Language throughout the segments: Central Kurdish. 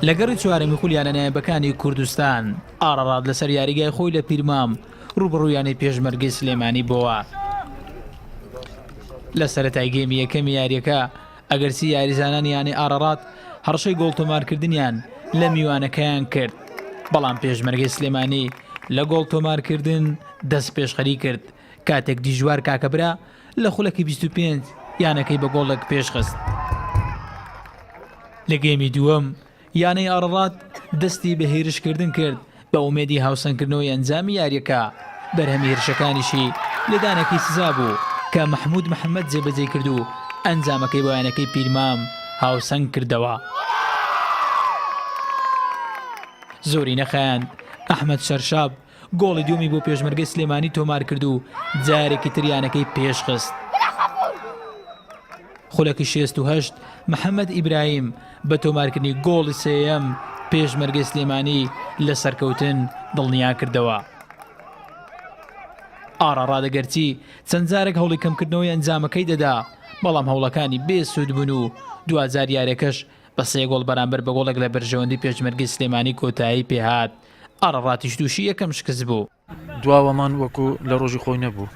لە گەڕی چوارەمی خولیانە نایبەکانی کوردستان ئاڕاڕات لەسەر یاریگای خۆی لە پیرمام ڕوبڕویانی پێشمەرگی سلێمانی بۆوە لە سەتای گەمی یەکەمی یاریەکە ئەگەرسی یاریزانان یانە ئاڕاڕات هەڕشەی گۆڵتۆمارکردنیان لە میوانەکەیان کرد بەڵام پێشمەرگی سلێمانی لە گۆڵ تۆمارکردن دەست پێشخەری کرد کاتێک دیژوار کاکەبرا لە خولەکی بیست و پێنج یانەکەی بە گۆڵێک پێشخست. لە گێمی دووەم یانەی ئاڕڕات دەستی بە هێرشکردن کرد بە ئومێدی هاوسەنگکردنەوەی ئەنجامی یارییەکە، بەرهەمی هێرشەکانیشی لێدانێکی سزا بوو کە مەحموود محەممەد جێبەجێی کرد و ئەنجامەکەی بۆ یانەکەی پیرمام هاوسەنگ کردەوە. زۆری نەخایاند ئەحمەد شەرشاب گۆڵی دووەمی بۆ پێشمەرگەی سلێمانی تۆمارکرد و جارێکی تر یانەکەی پێشخست. خولەکی شێست و هەشت محەممەد ئیبراهیم بە تۆمارکردنی گۆڵی سێیەم پێشمەرگەی سلێمانی لە سەرکەوتن دڵنیا کردەوە. ئاڕاڕادە گەرچی چەند جارێک هەوڵی کەمکردنەوەی ئەنجامەکەی دەدا بەڵام هەوڵەکانی بێ سوود بوون و دواجار یاریەکەش بە سێ گۆڵ بەرامبەر بە گۆڵێک لە بەرژەوەندی پێشمەرگی سلێمانی کۆتایی پێهات ئارەڕاتیش تووشی یەکەم شکست بوو. دواوەمان وەکو لە رۆژی خۆی نەبوو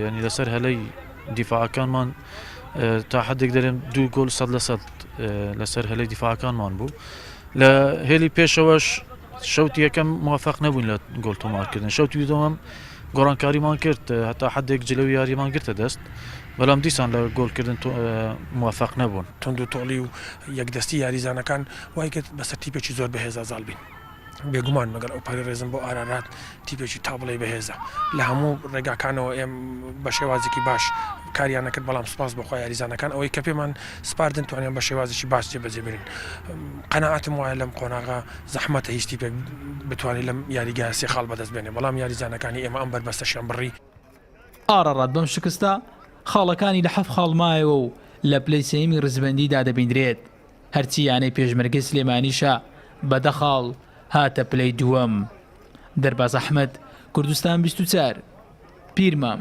یانی لەسەر هەلەی دیفاعەکانمان تا حدێک دەرێن دوو گۆل سەد لە سەد لەسەر هەلەی دیفاعەکانمان بوو لە هێلی پێشەوەش شەوتی یەکەم موفق نەبوون لە گۆل تۆمارکردن شەوتی دووەم گۆڕانکاریمان کرد هەتا حدێک جلو یاریمان گرتە دەست بەڵام دیسان لە گۆلکردن موفق نەبوون تونند و تۆڵی و یەکدەستی یاریزانەکان وای کرد بەسەر تیپێکی زۆر بەهێزا زاڵ بین. بێگومان لەگەڵ ئەوپەڕی ڕێزم بۆ ئارارات تیپێکی تا بڵێی بەهێزە لە هەموو ڕێگاکانەوە ئێم بە شێوازێکی باش کاریانەکرد بەڵام سپاس بۆخوا یاریزانەکان ئەوەی کە پێمان سپاردن توانیان بە شێوازێکی باش جێبەجێ بگرن قەنەعاتم وایە لەم قۆناغا زەحمەتە هیچ تیپێک بتوانێت لەم یاریگا سێ خاڵ بەدەست بێنێ بەڵام یاریزانەکانی ئێمە ئەم بەربەستەشیان بڕی ئارارات بەم شکستە خاڵەکانی لە حەفت خاڵ مایەوە و لە پلەی سێیەمی ڕیزبەندیدا دەبیندرێت. هەرچی یانەی پێشمەرگەی سلێمانیشە بە دە خاڵ هاتە پلەی دووەم. دەرباز ئەحمەد، کوردستان بیست و چوار، پیرمام.